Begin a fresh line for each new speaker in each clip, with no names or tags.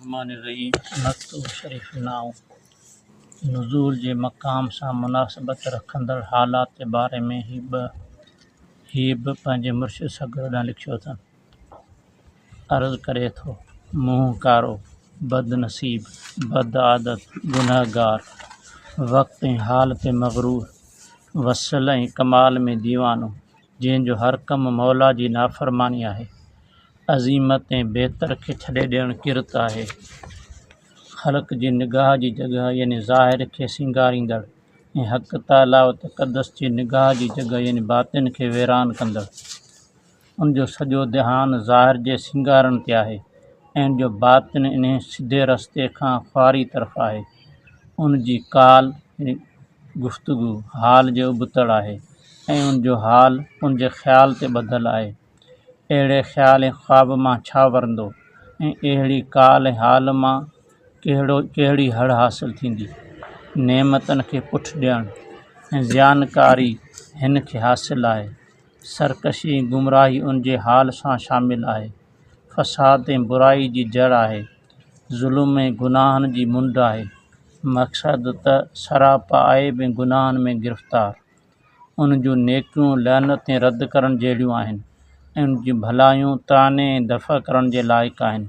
الرحمان الرحيم مڪتوب شريف نانء نزول جي مقام سان مناسبت رکندڙ حالات جي باري ۾ هي به هي به پنهنجي مرشد سگرو ڏانهن لکيو اٿن عرض ڪري ٿو منهن ڪارو بد نصيب بد عادت گنهگار وقت ۽ حال تي مغرور وصل ۽ ڪمال ۾ ديوانو جنهن جو هر ڪم مولا جي نافرماني آهي عظيمت ۽ بهتر کي ڇڏي ڏيڻ ڪرت آهي خلق جي نگاهه جي جڳهه يعني ظاهر کي سينگاريندڙ ۽ حق تعاليٰ و تقدس جي نگاهه جي جڳهه يعني باطن کي ويران ڪندڙ ان جو سڄو ڌيان ظاهر جي سينگارڻ تي آهي ۽ ان جو باطن انهي سڌي رستي کان خواري طرف آهي ان جي ڪال ۽ گفتگو حال جي ابتڙ آهي ۽ ان جو حال ان جي خيال تي ٻڌل آهي اهڙي خيال ۽ خواب مان ڇا ورندو ۽ اهڙي ڪال ۽ حال مان ڪهڙو ڪهڙي هڙ حاصل ٿيندي نعمتن کي پٺ ڏيڻ ۽ زيان ڪاري هن کي حاصل آهي سرڪشي ۽ گمراهي ان جي حال سان شامل آهي فساد ۽ برائي جي جڙ آهي، ظلم ۽ گناهن جي منڍ آهي، مقصد ته سراپا عيب ۽ گناهن ۾ گرفتار، ان جون نيڪيون لعنت ۽ رد ڪرڻ جهڙيون آهن ۽ ان جون ڀلايون طعني ۽ دفع ڪرڻ جي لائق آهن،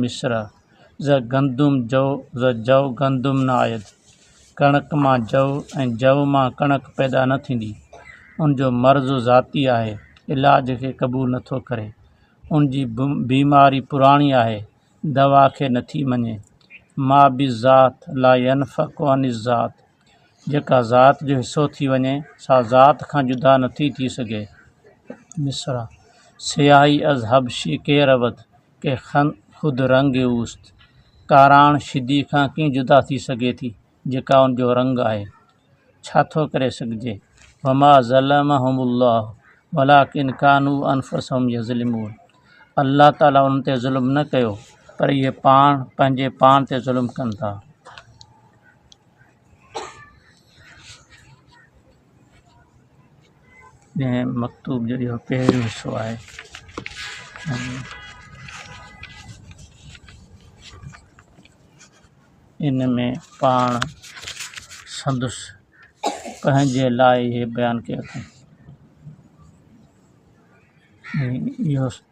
مصرع، ز گندم جو ز جو گندم نه آيت، ڪڻڪ مان جو ۽ جو مان ڪڻڪ پيدا نه ٿيندي، ان جو مرض ذاتي آهي، علاج کي قبول نه ٿو ڪري، ان جي بيماري پراڻي آهي، دوا کي نه ٿي مڃي، ما بالذات لا ينفڪ عن الذات، جيڪا ذات جو حصو ٿي وڃي، سا ذات کان جدا نه ٿي ٿي سگهي. مصرع، سياهي از حبشي ڪير اود. ڪي خن خود رنگ اوست ڪاراڻ شدي کان ڪيئن جدا ٿي سگهي ٿي جيڪا ان جو رنگ آهي ڇا ٿو ڪري سگهجي وما ظلمهم الله ولڪن ڪانو انفسهم يظلمون الله تعاليٰ ان تي ظلم نه ڪيو پر اهي پاڻ پنهنجي پاڻ تي ظلم ڪن ٿا ڏهين مڪتوب جو اهو پهريون حصو آهي. ان ۾ پاڻ سندس پنهنجي لاء اهي بيان ڪيو اٿائين.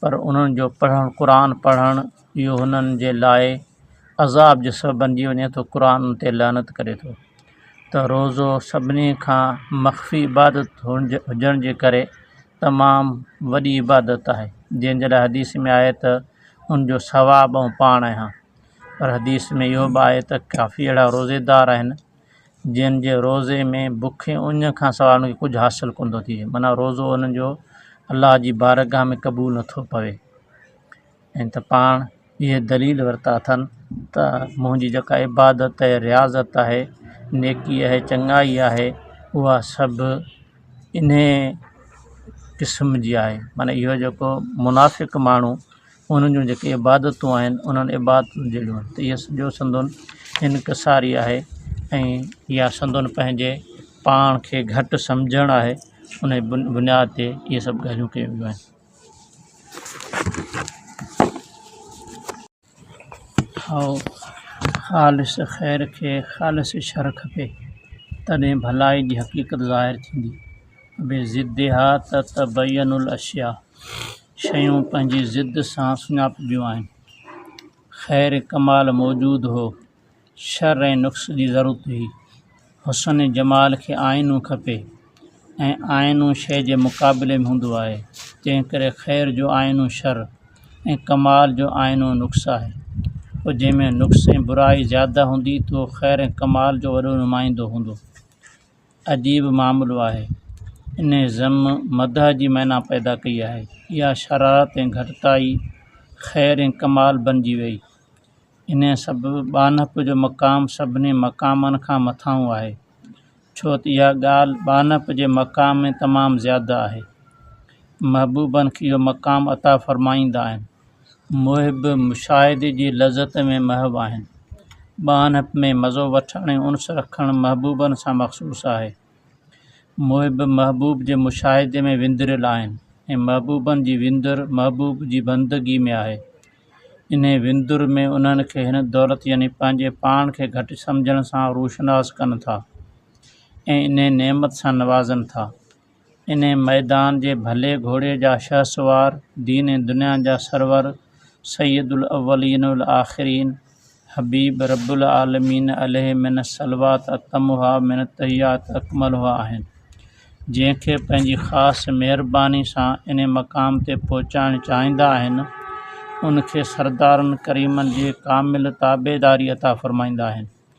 پر انهن جو پڙهڻ، قرآن پڙهڻ، اهو هنن جي لاء عذاب جو سبب بنجي وڃي ٿو، قرآن انهن تي لعنت ڪري ٿو ته روزو سڀني کان مخفي عبادت هجڻ جي ڪري تمام وڏي عبادت آهي، جنهن جي لاء حديث ۾ آهي ته ان جو ثواب آئون پاڻ آهيان، پر حديث ۾ اهو به آهي ته ڪافي اهڙا روزيدار آهن جن جي روزي ۾ بک ۽ اڃ کانسواء انهن کي ڪجهه حاصل ڪونه ٿو ٿئي معنيٰ روزو انهن جو الله جي بارگاھ ۾ قبول نٿو پوي ۽ ته پاڻ اهي دليل ورتا اٿن ته منهنجي جيڪا عبادت ۽ رياضت آهي نيڪي آهي چڱائي آهي اها سڀ انهي قسم جي آهي معنيٰ اهو جيڪو منافق ماڻهو انهن جون جيڪي عبادتون آهن انهن عبادتن جهڙيون ته اهي سڄو سندن انڪساري آهي ۽ يا سندن پنهنجي پاڻ کي گهٽ سمجهڻ آهي ان جي بن بنياد تي اهي سڀ ڳالهيون ڪيون ويون آهن هائو خالص خير کي خالص شر کپي تڏهن ڀلائي جي حقيقت ظاهر ٿيندي بي ضدها تتبين الاشياء شيون پنهنجي ضد سان سڃاپبيون آهن خير ڪمال موجود هو شر ۽ نقص جي ضرورت هئي حسن ۽ جمال کي آئينو کپي ۽ آئينو شي جي مقابلي ۾ هوندو آهي تنهن ڪري خير جو آئينو شر ۽ ڪمال جو آئينو نقص آهي پوء جنهن ۾ نقص ۽ برائي زياده هوندي تهو خير ڪمال جو وڏو نمائندو هوندو عجيب معاملو آهي. انهي ذم مدح جي معنيٰ پيدا ڪئي آهي. اها شرارت ۽ گهٽتائي خير ۽ ڪمال بنجي ويئي. انهي سبب ٻانهپ جو مقام سڀني مقامن کان مٿانهون آهي. ڇو ته اها ڳالهه ٻانهپ جي مقام ۾ تمام زياده آهي. محبوبن کي اهو مقام عطا فرمائيندا آهن. محب مشاهدي جي لذت ۾ محو آهن. ٻانهپ ۾ مزو وٺڻ ۽ انس رکڻ محبوبن سان مخصوص آهي. محب محبوب جي مشاهدي ۾ وندريل آهن ۽ محبوبن جي وندر محبوب جي بندگي ۾ آهي. انهيء وندر ۾ انهن کي هن دولت يعني پنهنجي پاڻ کي گهٽ سمجهڻ سان روشناس ڪن ٿا ۽ انهيء نعمت سان نوازن ٿا. انهيء ميدان جي ڀلي گهوڙي جا شهسوار، دين ۽ دنيا جا سرور، سيد الاولين والآخرين، حبيب رب العالمين عليه من الصلوات اتمها من التحيات اڪملها آهن، جنهن کي پنهنجي خاص مهرباني سان انهيء مقام تي پهچائڻ چاهيندا آهن، ان کي سردارن ڪريمن جي ڪامل تابعداري عطا فرمائيندا آهن.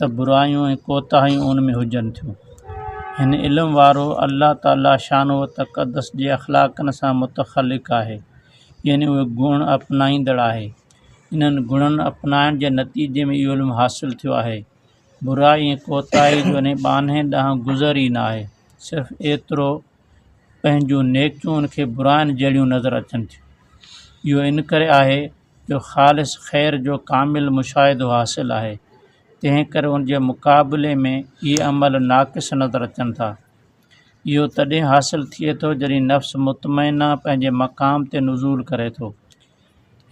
ته برايون ۽ ڪوتاهيون ان ۾ هجن ٿيون. هن علم وارو الله تعاليٰ شانه و تقدس جي اخلاقن سان متخلق آهي، يعني اهي گڻ اپنائيندڙ آهي. انهن گڻن اپنائڻ جي نتيجي ۾ اهو علم حاصل ٿيو آهي. برائي ۽ ڪوتاهي جو انهي ٻانهي ڏانهن گذر ئي نه آهي، صرف ايترو پنهنجون نيڪيون ان کي براين جهڙيون نظر اچن ٿيون. اهو ان ڪري آهي. جو خالص خير جو ڪامل مشاهدو حاصل آهي، تنهن ڪري ان جي مقابلي ۾ اهي عمل ناقص نظر اچن ٿا. اهو تڏهن حاصل ٿئي ٿو جڏهن نفس مطمئنه پنهنجي مقام تي نزول ڪري ٿو.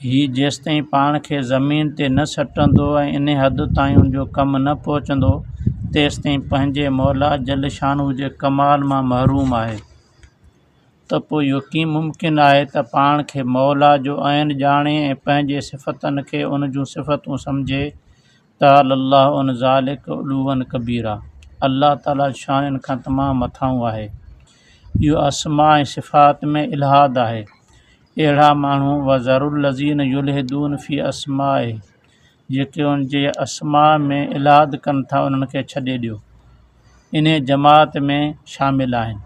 هي جيستائين پاڻ کي زمين تي نه سٽندو ۽ انهي حد تائين ان جو ڪم نه پهچندو، تيستائين پنهنجي مولا جل شانه جي ڪمال مان محروم آهي. ته پوء اهو ڪيئن ممڪن آهي ته پاڻ کي موليٰ جو عين ڄاڻي ۽ پنهنجي صفتن کي ان جون صفتون سمجهي، تعالي الله عن ذلڪ علوا ڪبيرا، الله تعاليٰ جو شان ان کان تمام مٿانهون آهي. اهو اسماء ۽ صفات ۾ الحاد آهي. اهڙا ماڻهو، وذروا الذين يلحدون في اسمائه، جيڪي ان جي اسماء ۾ الحاد ڪن ٿا انهن کي ڇڏي ڏيو انهي جماعت ۾ شامل آهن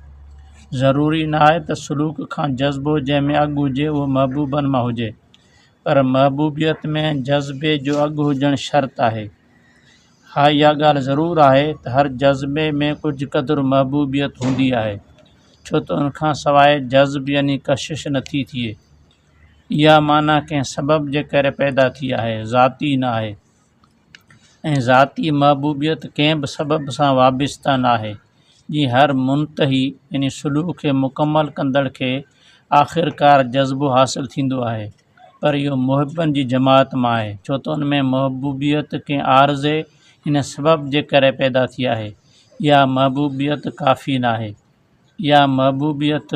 ضروري نه آهي ته سلوڪ کان جذبو جنهن ۾ اڳ هجي اهو محبوبن مان هجي پر محبوبيت ۾ جذبي جو اڳ هجڻ شرط آهي ها اها ڳالهه ضرور آهي ته هر جذبي ۾ ڪجهه قدر محبوبيت هوندي آهي ڇو ته ان کان سواء جذب يعني ڪشش نٿي ٿئي اها معنيٰ ڪنهن سبب جي ڪري پيدا ٿي آهي، ذاتي نه آهي. ۽ ذاتي محبوبيت ڪنهن به سبب سان وابسته نه آهي. جيئن هر منتهي يعني سلوڪ کي مڪمل ڪندڙ کي آخرڪار جذبو حاصل ٿيندو آهي، پر اهو محبن جي جماعت مان آهي، ڇو ته ان ۾ محبوبيت ڪنهن عارضي يعني سبب جي ڪري پيدا ٿي آهي. اها محبوبيت ڪافي نه آهي. يا محبوبيت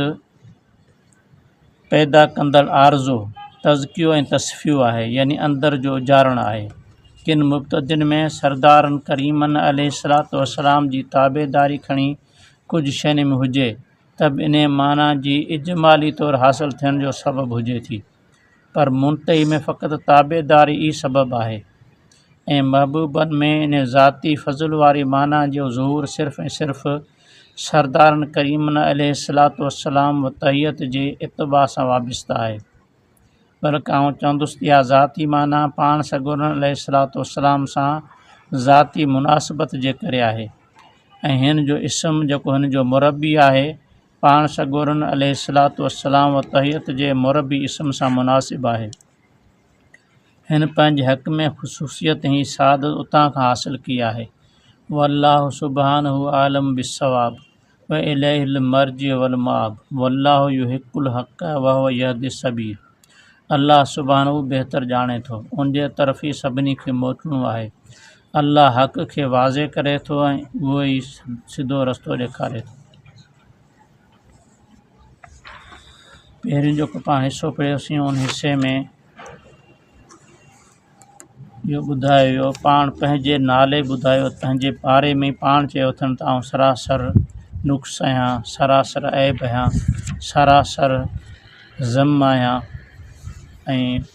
پيدا ڪندڙ آرزو تزڪيو ۽ تصفيو آهي يعني اندر جو اجارڻ آهي ڪن مبتدين ۾ سردارن ڪريمن عليه الصلوۃ والسلام جي تابعداري کڻي ڪجهه شين ۾ هجي ته به انهي معنيٰ جي اجمالي طور حاصل ٿيڻ جو سبب هجي ٿي پر منتهي ۾ فقط تابعداري ئي سبب آهي ۽ محبوبن ۾ ان ذاتي فضل واري معنيٰ جو ظهور صرف ۽ صرف سردارن ڪريمن عليه الصلوة والسلام و طيعت جي اتباع سان وابسته آهي بلڪ آئون چوندس ته اها ذاتي معنيٰ پاڻ سڳورن عليه الصلوة والسلام سان ذاتي مناسبت جي ڪري آهي ۽ هن جو اسم جيڪو هن جو مربي آهي پاڻ سڳورن عليه الصلوة والسلام و تحيت جي مربي اسم سان مناسب آهي. هن پنهنجي حق ۾ خصوصيت هي سعادت اتان کان حاصل ڪئي آهي. والله سبحانه عالم بالصواب و اليه المرجع والمآب والله يحق الحق وهو يهدي السبيل الله سبحانه بهتر ڄاڻي ٿو، ان جي طرف ئي سڀني کي موٽڻو آهي. الله حق کي واضح ڪري ٿو ۽ اهو ئي سڌو رستو ڏيکاري ٿو. پهريون جيڪو پاڻ حصو پڙهيوسين ان حصي ۾ اهو ٻڌايو ويو پاڻ پنهنجي نالي ٻڌايو پنهنجي باري ۾ پاڻ چيو اٿن ته آئون سراسر نقص آهيان سراسر عيب آهيان سراسر ذم آهيان ۽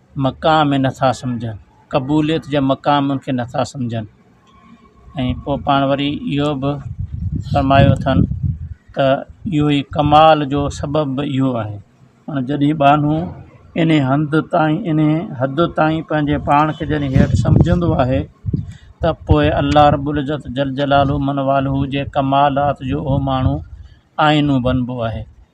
مقام ۾ نٿا سمجهن قبوليت جا مقام ان کي نٿا سمجهن ۽ پوء پاڻ وري اهو به فرمايو اٿن ته اهو ئي ڪمال جو سبب به اهو آهي ان جڏهن ٻانهو ان هنڌ تائين ان حد تائين پنهنجي پاڻ کي جڏهن هيٺ سمجهندو آهي ته پوء الله رب العزت جل جلاله من والهه جي ڪمالات جو اهو ماڻهو آئينو بنبو آهي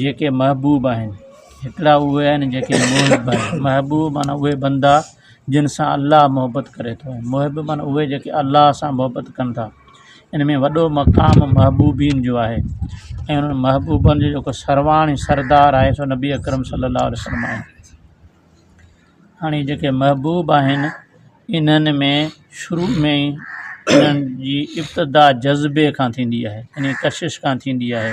جيڪي محبوب آهن، هڪڙا اهي آهن جيڪي محب آهن، محبوب معنيٰ اهي بندا جن سان الله محبت ڪري ٿو ۽ محب معنيٰ اهي جيڪي الله سان محبت ڪن ٿا ان ۾ وڏو مقام محبوبين جو آهي ۽ انهن محبوبن جو جيڪو سرواڻ ۽ سردار آهي سو نبي اڪرم صلّي الله عليه وسلّم آهي هاڻي جيڪي محبوب آهن انهن ۾ شروع ۾ ئي انهن جي ابتدا جذبي کان ٿيندي آهي يعنيٰ ڪشش کان ٿيندي آهي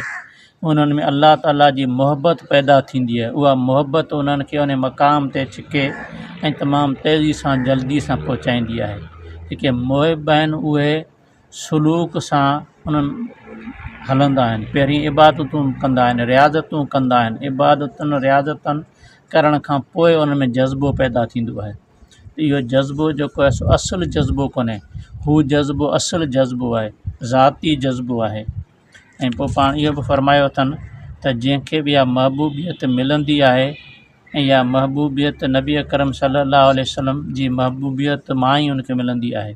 انهن ۾ الله تعاليٰ جي محبت پيدا ٿيندي آهي اها محبت انهن کي ان مقام تي ڇڪي ۽ تمام تيزي سان جلدي سان پهچائيندي آهي جيڪي محب آهن اهي سلوڪ سان انهن هلندا آهن پهرين عبادتون ڪندا آهن رياضتون ڪندا آهن عبادتن رياضتن ڪرڻ کان پوء ان ۾ جذبو پيدا ٿيندو آهي اهو جذبو جيڪو آهي سو اصل جذبو ڪونهي هو جذبو اصل جذبو آهي ذاتي جذبو آهي ۽ پوء پاڻ اهو به فرمايو اٿن ته جنهنکي به اها محبوبيت ملندي آهي ۽ اها محبوبيت نبي اڪرم صلي الله عليه وسلم جي محبوبيت مان ئي ان کي ملندي آهي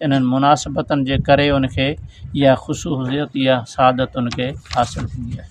انهن مناسبتن جي ڪري ان کي اها خصوصيت يا سعادت ان کي حاصل ٿيندي آهي